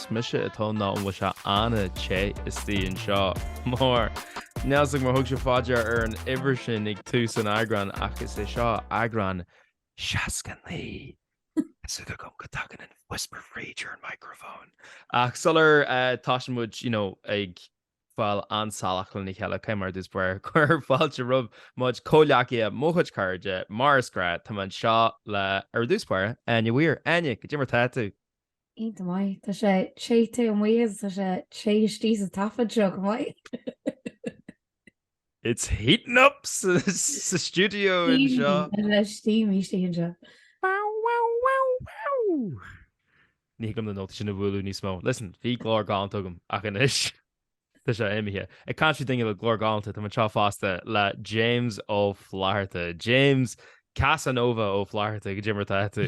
Is mise atá nó an bhfuil sé iontach te istigh anseo? Mar ní iontas mar thug sé faoi deara an uimhir sin ag tús an eagráin ach is é seo eagrán 69. Is fada agam go dtagann an whisper free during an microphone ach sula dtosaíonn muid you know ag fáil an-salach lena cheile caithfidh mé ar dtús báire cur fáilte roimh mo chomhghleacaithe mo chuid cairde mar is gnách tá mé anseo le ar dtús báire Áine Weir Áine goidé mar tá tú? Iontach maith. Tá sé te amuigh agus tá sé te istigh sa taifead seo go maith. It's heating up sa stiúideo anseo. Tá sé steamy istigh anseo. Ní thig liom na nótaí sin a bhualadh níos mó. Listen, bhí glór galanta agam ach anois tá sé imithe. Ag caint faoi daoine le glór galanta, tá mé anseo fosta le James Ó Flaithearta. James, Casanova Ó Flaithearta, goidé mar atá tú.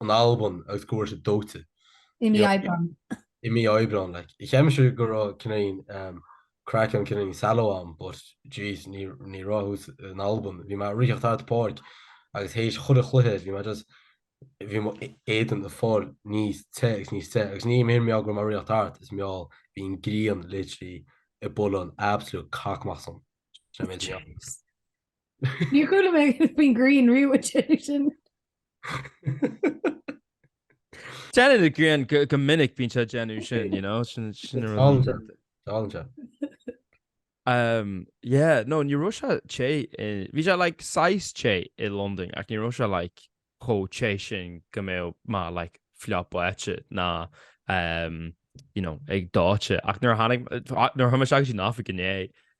in Albain agus go bhfuair sé dóite. i mí Aibreáin. i mí Aibreáin like. Cheap mise go raibh cineál craic ann cineál solas ann but jeez ní ní raibh thuas in Albain. Bhí mé ag ritheacht thart páirc agus théis chuile chluiche bhí mé just bhí mo éadan ag fáil níos te agus níos te agus ní mar gheall go raibh mé ag ritheacht thart is mar gheall bhí an ghrian literally ag bualadh an absolute cac amach asam. Sin an méid a bhí ann. Jeez. Níor chuala mé faoin ghrian riamh sin. Déanann an ghrian go minic bíonn sí ag déanamh sin, you know, sin sin ar an- Táiltear. Táiltear. Um, yeah, no, ní raibh sé te i- bhí sé like saghas te i Londain ach ní raibh sé like chomh te sin go mbeadh mé like fliuch báite ná um, you know, ag dóite ach nuair a tháinig nuair a chuaigh mé isteach go dtí an oifig inné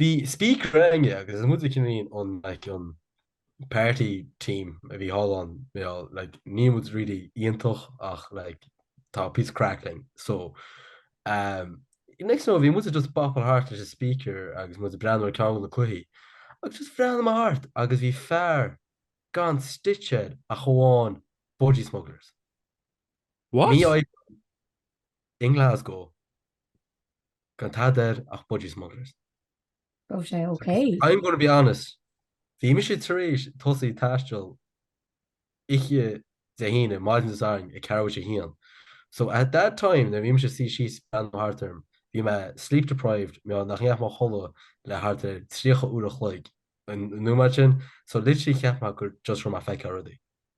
Bhí speaker againne agus is muide cineál an like an party team a bhí thall ann you know like níl muid really iontach ach like tá píosa craic linn so um next thing you know bhí muide just ag bopáil thart leis an speaker agus muid ag breathnú ar cheann de na cluichí agus just bhreathnaigh mé thart agus bhí fear gan stitch air ach amháin Budgie Smugglers. What? Mí Aibreáin i nGlasgow. gan tada air ach Budgie Smugglers. Go raibh sé ok. I'm gonna be honest, bhí mise tar éis tosaí ag taisteal oíche Dé hAoine, maidin Dé Sathairn, ag ceathrú tar éis a haon. So at that time, nuair a bhí mise ag suí síos ag breathnú thart orm, bhí mé sleep deprived, mar nach ndeachaigh mé a chodladh le thart ar tríocha uair a chloig an nóiméad sin, so literally cheap mé gur just raibh mé ag feiceáil rudaí.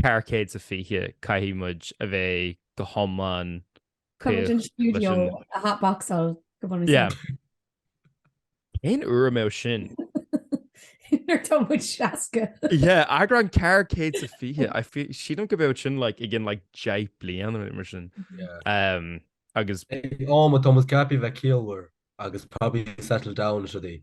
ceithre chéad is a fiche caithfidh muid a bheith go hiomlán like an stiúideo a hotboxáil go bunaidh Yeah. féin. Cén uair a mbeadh sin? Nuair atá muid seasca. Yeah, eagrán ceithre chéad is a fiche. I feel- Sílim go mbeadh sin like, againn like, deich mbliana nó rud mar sin. Yeah. Um, agus Ag am atá muid ceaptha a bheith ciallmhar agus probably settled down is rudaí.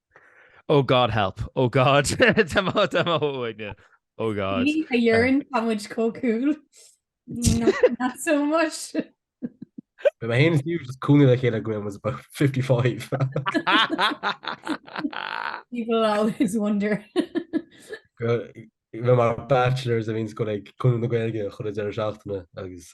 Oh God help, oh God tá mo tá mo thóg uaidne, oh God. Ní a dhearn tá muid có cool. Not, not so much. But mé féin agus cúnamh like a chéile go raibh muid about 55. People always wonder. Bhí mar bachelors a bhíonns ag gabháil go Cumann na Gaeilge achan deireadh seachtaine agus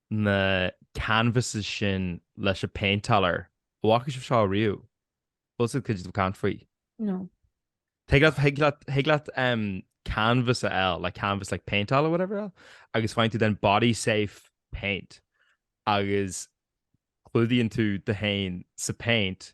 na canvases sin leis an paint all over. An bhfaca sibh seo riamh? Bhfuil sibh cloiste caint faoi? No. Thig leat, thig leat, thig leat um, canvas a fháil, like canvas like paint all over whatever like, agus faigheann tú then body safe paint agus clúdaíonn tú tú féin sa paint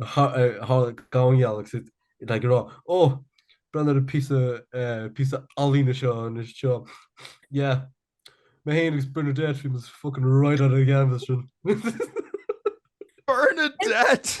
tháinig Gabhann gheall agus like ag a rá, Ó, breathnaigh ar an bpíosa ealaíne seo anseo. Yeah. Mé féin agus Bernadette, we must fucking write on a canvas sin. Bernadette!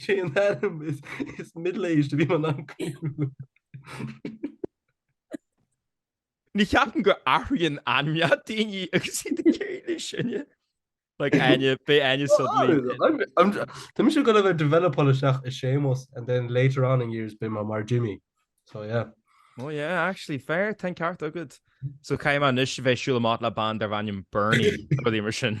Sé an ainm is is middle-aged a bheadh m'ainm cool. Ní cheapaim go n-athraíonn ainmneacha daoine agus iad ag éirí níos sine. Like Áine, beidh Áine suddenly. Tá mise ag gabháil a bheith ag developáil isteach i Seamus and then later on in years beidh mé mar Jimmy. So yeah. Oh yeah, actually fair, tá an ceart agad. So caithfidh mé anois a bheith ag siúl amach le bean darb ainm Bernie nó rud mar sin.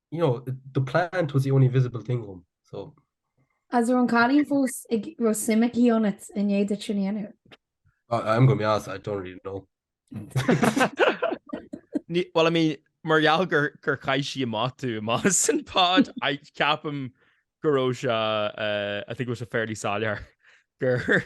you know, the plant was the only visible thing on, so. Agus an raibh an cailín fós an raibh suim aici ionat i ndiaidh duit sin a dhéanamh? I, I'm going to be honest, I don't really know. well, I mean, mar gheall gur gur chaith sí amach tú amach as an pod, I ceapaim go raibh sé, uh, I think it was a fairly soiléir gur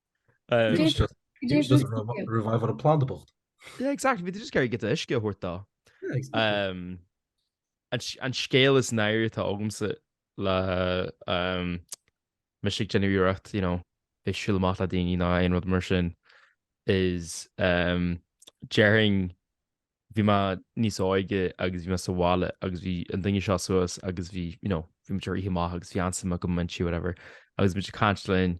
Revive an planda bocht. Yeah, exactly. Bhí tú just ag iarraidh like uisce a thabhairt dó. Um, an scéal is náirí atá agamsa le um, mo chuid déagóireacht you know, bheith ag siúl amach le daoine nó aon rud mar sin is um, during bhí mé níos óige agus bhí mé sa bhaile agus bhí an daine seo suas agus bhí you know, bhí mo mháthair imithe amach agus bhí an-am go maith sa tí whatever agus muid ag caint lena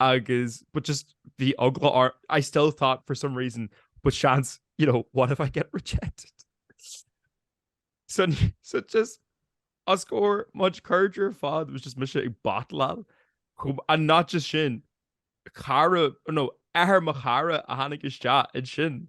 agus but just bhí eagla or I still thought for some reason but seans you know what if I get rejected so, so just as scór much curdra fad was just mise ag batlail chum and not just sin cara no ahar mo chara a tháinig isteach in sin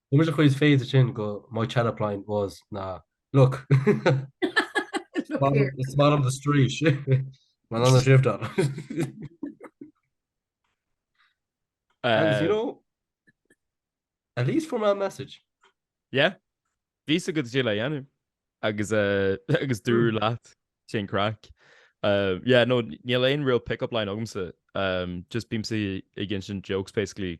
Ní muid a chuid féidir sin go My Chaneplain was na look It's man on the street Man on the shift on And you know At least for my message Yeah Bhí sa go dtí le dhéanú agus uh, agus dú hmm. leat sin crack. Uh, yeah, no níl aon real pick-up line agamsa um, just bím si i gin sin jokes basically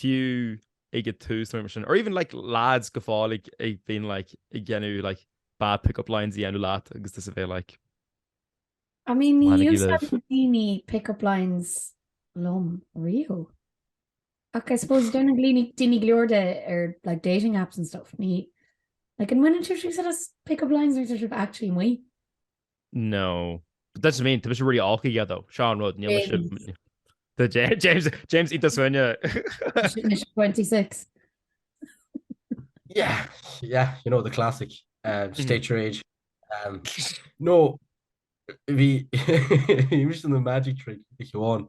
fiú ag a tús nó mar sin, or even like lads ag gabháil ag a bhíonn like ag dhéanamh like bad pick-up lines a dhéanamh leat agus iad a bheith like I mean, ní mbaineann sibh úsáid libh. Níor úsáid daoine pick-up lines liom riamh. Ach I suppose déanann daoine daoine go leor díobh ar like dating apps and stuff. Ní like ní mbaineann tú úsáid as pick-up lines nuair tá sibh actually amuigh. No. But that's what I mean, tá mé really awkward yeah though, sin rud atá ag James James Ita Sweeney 26. Yeah, yeah, you know the classic uh, hmm. state your age. Um, no bhí an magic trick amháin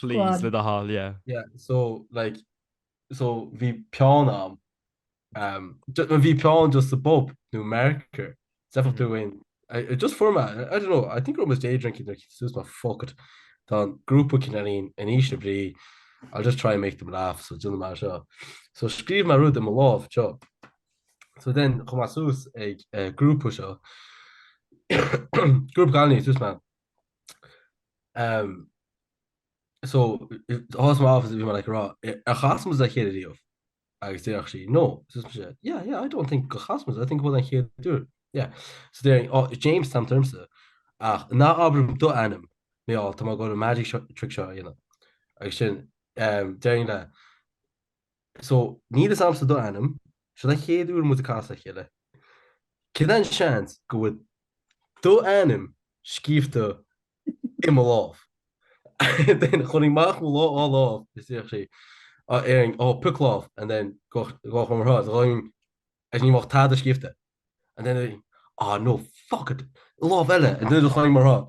Please, le do thoil, yeah. Yeah, so like, so bhí peann a'm, um, ju- no, bhí peann just sa bpub, nó marker, d'fheicfeadh tú aon, I- I just fuair mé, I don't know, I think I was day drinking, like, so bhí mé, fuck it, tá an grúpa cailíní in aois na brí, I'll just try and make them laugh, so déanfaidh mé é seo. So scríobh mé rud i mo lámh, seo. So then, chuaigh mé suas ag eh, grúpa seo, grúpa cailíní, so bhí mé, Um, so, thos my office, bhí mar like, rá, a chasmas a chéad riomh? Agus déach sí, no. So, sé, yeah, yeah, I don't think go chasmas, I think bhfuil an chéad dúr. Yeah. So, déirigh, oh, James tam termsa, ach ná abram do anam, mé áil, tá má gáil magic trick seo a dhéanamh. Agus sin, um, déirigh le, So, níl fhios a'msa do ainm, seo a' chéad uair muid a' casadh a chéile. Cad é an seans go bhfuil do ainm scríobhta i mo lámh? Then chuirfinn amach mo dhá lámh is ansin déarfainn, oh, pioc lámh and then d'osclóinn mo lámh, so then is ní bheadh tada scríobhta and then, ah, no, fuck it, lámh eile and then d'osclóinn mo lámh.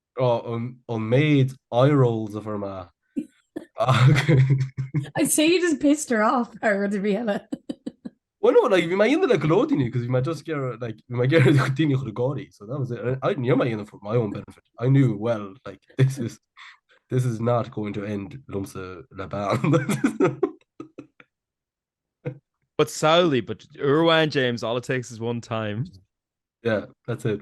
an méid eye rolls a fuair mé agus. I'd say you just pissed her off thar rud ar bith eile. Well no like bhí mé á dhéanamh le go leor daoine cos bhí mé just ag iarraidh like bhí mé ag iarraidh daoine a chur ag gáirí so that was it I ní raibh mé á dhéanamh for my own benefit I knew well like this is this is not going to end liomsa le bean. But samhlaigh but uair amháin James all it takes is one time. Yeah that's it.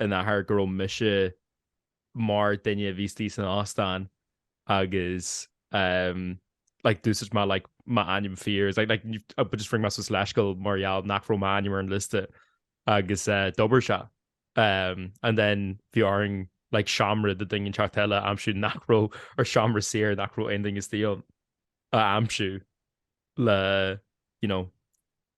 an fáth go raibh mise mar duine a bhí istigh san óstán agus like d'úsáid mé like m'ainm fíor so like but just rinne mé suas leithscéal mar gheall nach raibh m'ainm ar an liosta agus eh, d'oibrigh sé. Um, and then bhí orainn like seomra do duine éicint eile a aimsiú nach raibh or seomra saor nach raibh aon duine istigh ann a aimsiú le you know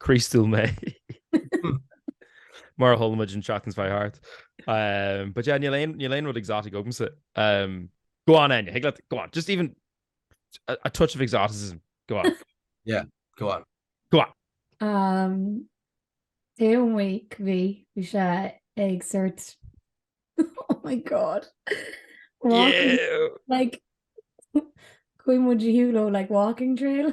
Críostúil mé. Mar tholamid an seachtain fá hart. Um, but yeah, níl aon rud exotic agamsa. Um, go on, Enya, higla, go on, just even a, a touch of exoticism. Go on. yeah, go on. Go on. Um, Dé week bhí bhí sé ag sort oh my god. Walking, yeah. like Queen would you like walking trail?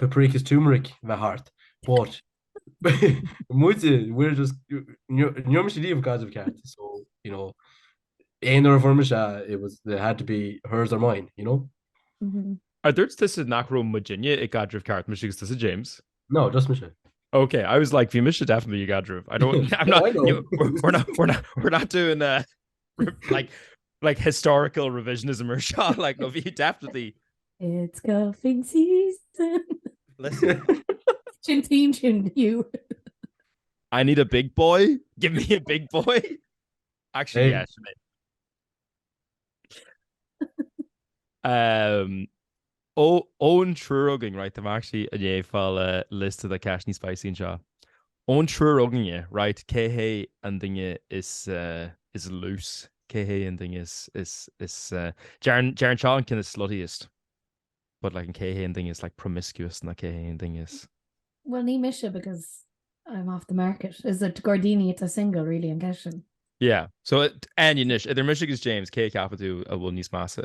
paprikas turmeric bheith thart but muide we're just níor mise díobh gaideamh ceart so you know aon ar bhur mise it was it had to be hers or mine you know mm -hmm. a dúirt tusa nach raibh mu dinne i gaideamh ceart mu agus tusa James no just mise Okay, I was like, bhí mise definitely i gaidirh. I don't, I'm not, no, I know. You, we're, not, we're, not, we're not doing uh, like like historical revisionism or shot like no you definitely it's golfing season listen chin team chin you I need a big boy give me a big boy actually hey. yes um Ón triúr againn right I'm actually i ndiaidh fáil liosta de cheisteanna spicy anseo. Ón triúr againn eh right cé hé an duine is is loose cé hé an duine is is is eh deireann deireann seo kind of sluttiest but like an cé hé an duine is like promiscuous nó cé hé an duine is Well ní mise because I'm off the market. Is it gairdíní atá single really an ceist sin? Yeah so Áine anois idir mise agus James cé a cheapann tú a bhfuil níos measa?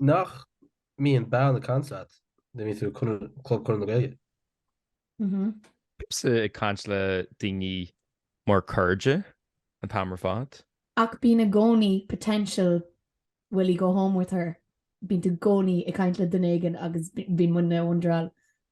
Nach mbíonn bean ag caint leat nuair a bhíonn tú ag Club Chonradh na Gaeilge? Mhm. Bímse ag caint le daoine mar cairde an t-am ar fad. Ach bíonn i gcónaí potential will he go home with her, bíonn tú i gcónaí ag caint le duine éigin agus bíonn muidne i wonder,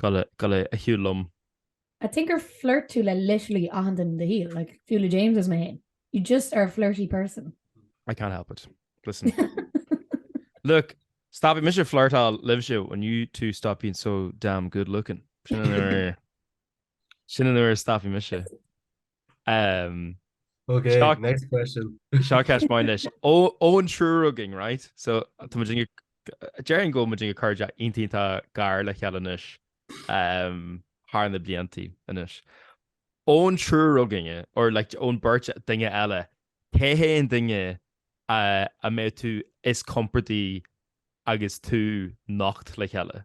Cad é a shiúil liom? I think gur flirt tú le literally achan duine do shaol, like fiú le James is mé féin. You just are a flirty person. I can't help it. Listen. Look, stop it, Mr. Flirtal lives you and you two stop being so damn good looking. Sin an nuair stop me se. Ok, next question. Seo ceist mhaith anois. Ón triúr againn, right? So, déarfainn go bhfuil muidinne cairde iontach gar le chéile anois thar na bliantaí anois. Ón triúr againne, or like ón beirt duine eile, cé hé an duine a mbeadh tú is compordaí agus tú nocht le chéile?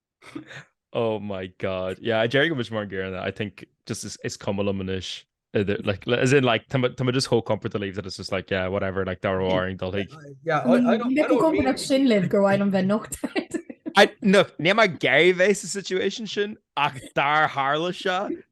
oh my god yeah Jerry go much more gear than that I think just is, is cum manish like as in like Tom just whole comfort to leave that it's just like yeah whatever like they're warring they'll like yeah I, I don't, I don't mean... sin live go I don't nocht I no ne my gay face situation sin ach dar harla se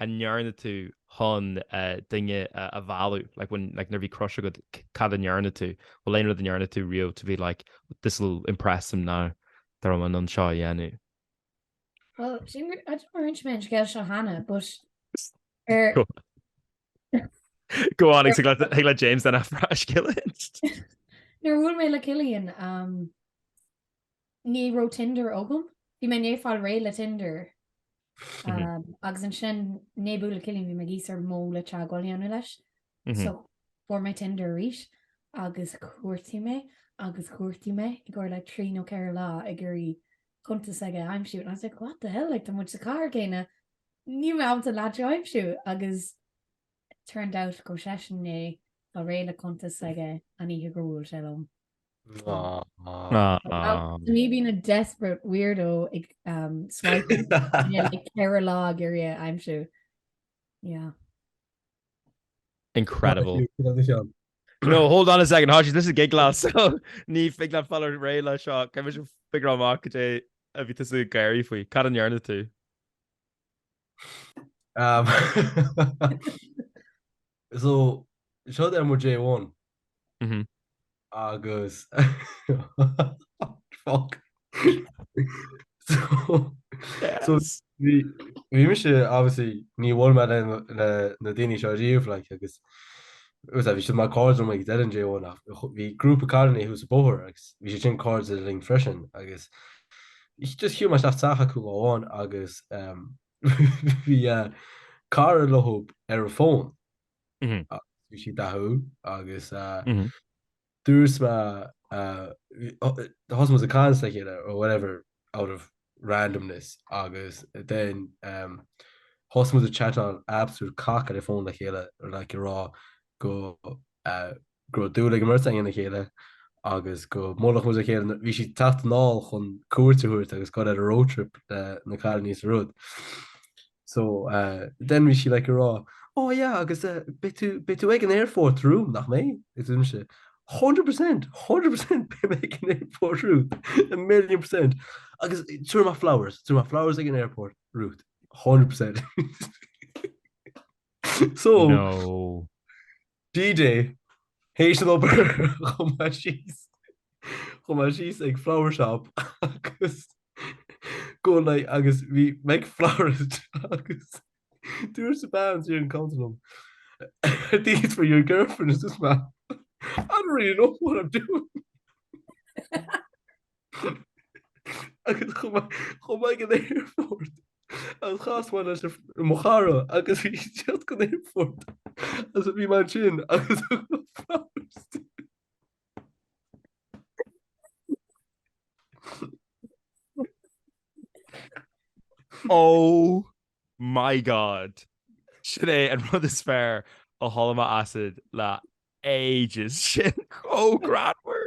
a ndearna tú chun duine a mhealladh? Like when, like nuair a bhí crush agat cad a ndearna tú? Bhfuil aon rud a ndearna tú riamh to be like this will impress him now dá mbeinn anseo a dhéanamh? Well sin mar I don't d'inis mé an scéal seo cheana but ar Go on, like James déan an scéal Nuair a bhuail mé le Cillian um, Ní raibh Tinder agam. Bhí mé i ndiaidh fáil réidh le Tinder agus ansin i ndiaidh bualadh le Cillian bhí mé ag iarraidh ar ndóigh le teagmháil a dhéanamh leis. So fuair mé Tinder arís agus chuardaigh mé agus chuardaigh mé i gcomhair like trí nó ceithre lá ag iarraidh cuntas aige a aimsiú and I was like what the hell like tá muid sa chathair céanna níl mé ábalta leaid seo a aimsiú agus it turned out go raibh seisean i ndiaidh fáil réidh le cuntas aige an oíche gur bhuail sé liom. Me being a desperate weirdo ceithre lá ag iarraidh é a aimsiú. Incredible. No, hold on a second, Hodges, this is Gig Glass, so ní thig linn fáil ar réidh leis seo, caithfimid figure amach cad é a bhí tú ag gáirí faoi, cad a ndearna tú? So, seo ar mo J1. agus bhí obviously níor bhuail mé le na daoine seo riamh like agus bhí siad mar cairde ag déanamh J1 ach bhí grúpa cairde thuas sa bóthar agus bhí siad sin cáirde linn freisin agus just chuaigh mé isteach sa teach acu lá amháin agus bhí cara leo ar an bhfón Bhí sí dathúil agus just thosaigh muid ag caint le chéile or whatever out of randomness agus then thosaigh muid ag chatáil absolute cac ar an bhfón le chéile like ag rá go go raibh dúil ag an mbeirt againn ina chéile agus go mbuailfeadh muid le chéile. Bhí sí ag teacht anall chun cuairt a thabhairt agus gabháil ar an road trip leis na cailíní is a rud. So then bhí sí like ag rá oh yeah agus eh beidh tú beidh tú ag an aerfort romham nach mbeidh? agus dúirt mise 100 percent 100 percent beidh mé ag an aerfort romhat a million percent agus tabharfaidh mé flowers tabharfaidh mé flowers ag an aerfort romhat 100 percent so no DJ, tar éis an obair chuaigh mé síos chuaigh mé síos chuig flower shop agus go like agus bhí mé flowers agus dúirt an bhean ar an chuntar liom. These for your girlfriend is this man. I don't really know what I'm doing. agus chuaigh mé chuig an aerfort agus chas mé le mo chara agus bhí sí ag teacht chuig an aerfort agus bhí mé ansin agus Oh my god Sin é an rud is fearr a chuala mé asat le ages sin chomh grámhar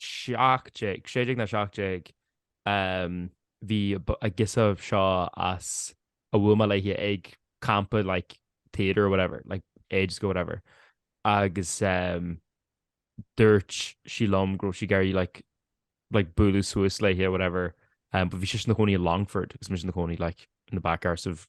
17, 16 nó 17 ehm, bhí an ghirseach seo agus bhuail mé léithe ag campa like theatre or whatever like ages ago whatever agus ehm, dúirt sí liom go raibh sí ag iarraidh like like bualadh suas léithe whatever um, but bhí sise ina cónaí i Longford agus mise ina cónaí like in the back arse of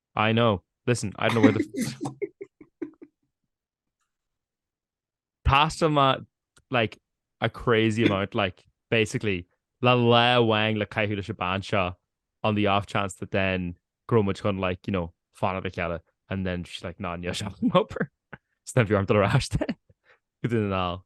I know. Listen, I don't know where the pasta ma like a crazy amount like basically la la wang la kai hula shabansha on the off chance that then gromage hun like you know fan of kella and then she's like non yo shop hopper snap your arm to the rash then good in all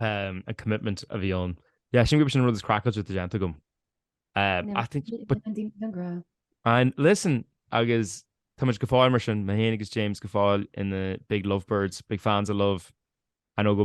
um, a commitment a bhí ann. Yeah, sílim gur sin an rud is craiceáilte atá déanta agam. Um, no, I think but, and listen agus tá muid go fóill mar sin mé féin agus James go fóill in the big lovebirds, big fans of love and go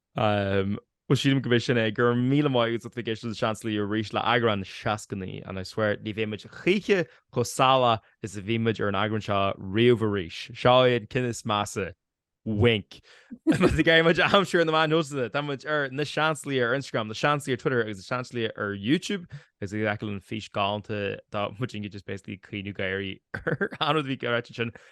Bhuel, sílim gurb é sin é. Go raibh míle maith agat as éisteacht leis Na Seansálaithe arís le eagrán 69, and I swear ní bheidh muid choíche chomh salach is a bhí muid ar an eagrán seo riamh arís. Seo é an ceann is measa. Wink. Más ag iarraidh muid a aimsiú ar na meáin shóisialta, tá muid ar Na Seansálaithe ar Instagram, Na Seansálaithe ar Twitter agus Na Seansálaithe ar YouTube, agus ag fheiceáil an fís galánta tá muid inge just basically ag caoineadh ag gáire ar an rud a bhí ar fhaitíos ansin.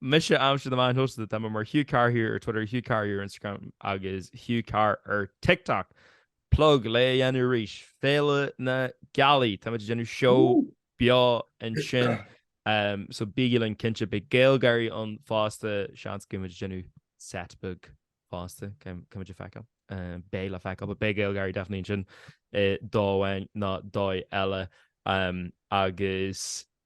Mise ar na meáin shóisialta, tá mé mar Hugh Carr here ar Twitter, Hugh Carr here ar Instagram agus Hugh Carr ar TikTok. Plug le déanamh arís, Féile na Gealaí, táimid ag déanamh seó beo ansin so bígí linn cinnte, beidh Gaelgáirí ann fosta, seans go mbeimid ag déanamh set beag fosta, caithfimid a fheiceáil, beidh le feiceáil, but beidh Gaelgáirí definitely ansin dóigh amháin nó dóigh eile agus